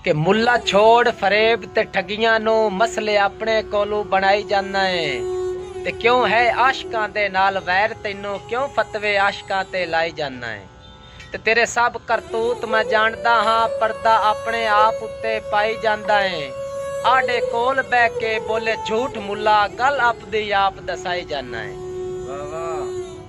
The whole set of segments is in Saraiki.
کہ ملا چھوڑ فریب تے ٹھگیاں نوں مسئلے اپنے کولوں بنڑائی جاندا ایں تے کیوں ہے عاشقاں دے نال ویر تینوں کیوں فتوے عاشقاں تے لائی جاندا ایں تے تیرے سب کرتوت میں جانڑدا ہاں پردہ اپنے آپ اتے پائی جاندا ایں آڈے کول بہ کے بولے جھوٹ ملا گل اپدی آپ دسائی جاندا ایں۔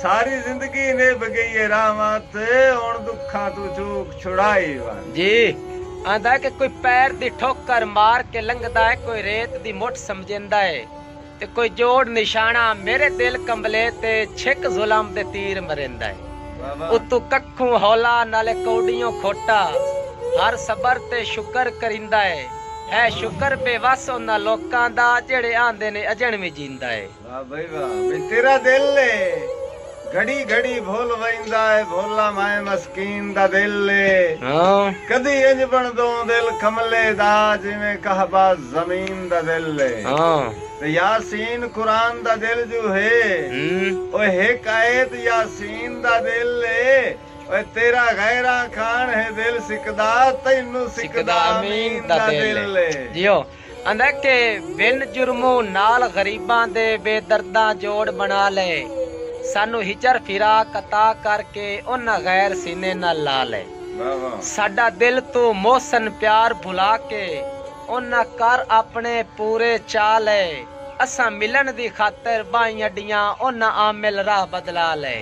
ساری زندگی نبھ گئی اے رحمت ہن دکھاں توں چوک چھڑائی ون۔ جی آندا اے کہ کوئی پیر دی ٹھوکر مار کے لنگھدا اے کوئی ریت دی مٹھ سمجھیندا اے تے کوئی جوڑ نشانہ میرے دل کمبلے تے چھک ظلم دے تیر مریندا اے اتوں ککھوں ہولا نالے کوڈیوں کھوٹا ہر صبر تے شکر کریندا اے ہے شکر بے وس انہاں لوکاں دا جیڑھے آندے نے اجنڑ وی جیندا اے۔ واہ بھئی واہ بھئی تیرا دل اے گھڑی گھڑی بھل ویندا اے بھولا مائیں مسکین دا دل اے کدی انج بنڑدوں دل کملے دا جیویں کہبہ زمین دا دل اے تے یاسین قرآن دا دل جو ہے اوئے ہک آیت یاسین دا دل اے اوئے تیرا غیراں کھان ہے دل سکدا تینوں سکدا امین دا دل اے۔ آندا کہ ون جرمو نال غریباں دے بے درداں جوڑ بنا لے سانو ہچر فراق عطا کر کے انہاں غیر سینے نال لا لے ساڈا دل توں محسن پیار بھلا کے انہاں کر اپنے پورے چا لے اساں ملن دی خاطر بائیں اڈیاں انہاں عامل راہ بدلا لے۔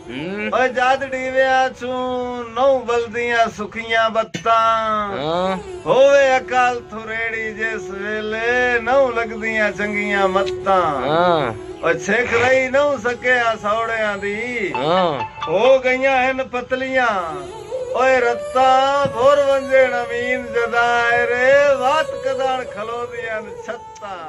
اوئے جد ڈیویاں چوں نہوں ولدیاں سکیاں بتاں ہووے اکل تھریڑی جس ویلے نہوں لگدیاں چنگیاں متاں اوئے چھک رہی نہوں سکے ہسوڑیاں دی ہو گئیاں ہن پتلیاں اوئے رتاں بھر ونجن امین جداں ایرے وت کداݨ کھلوندیاں ہن چھتاں۔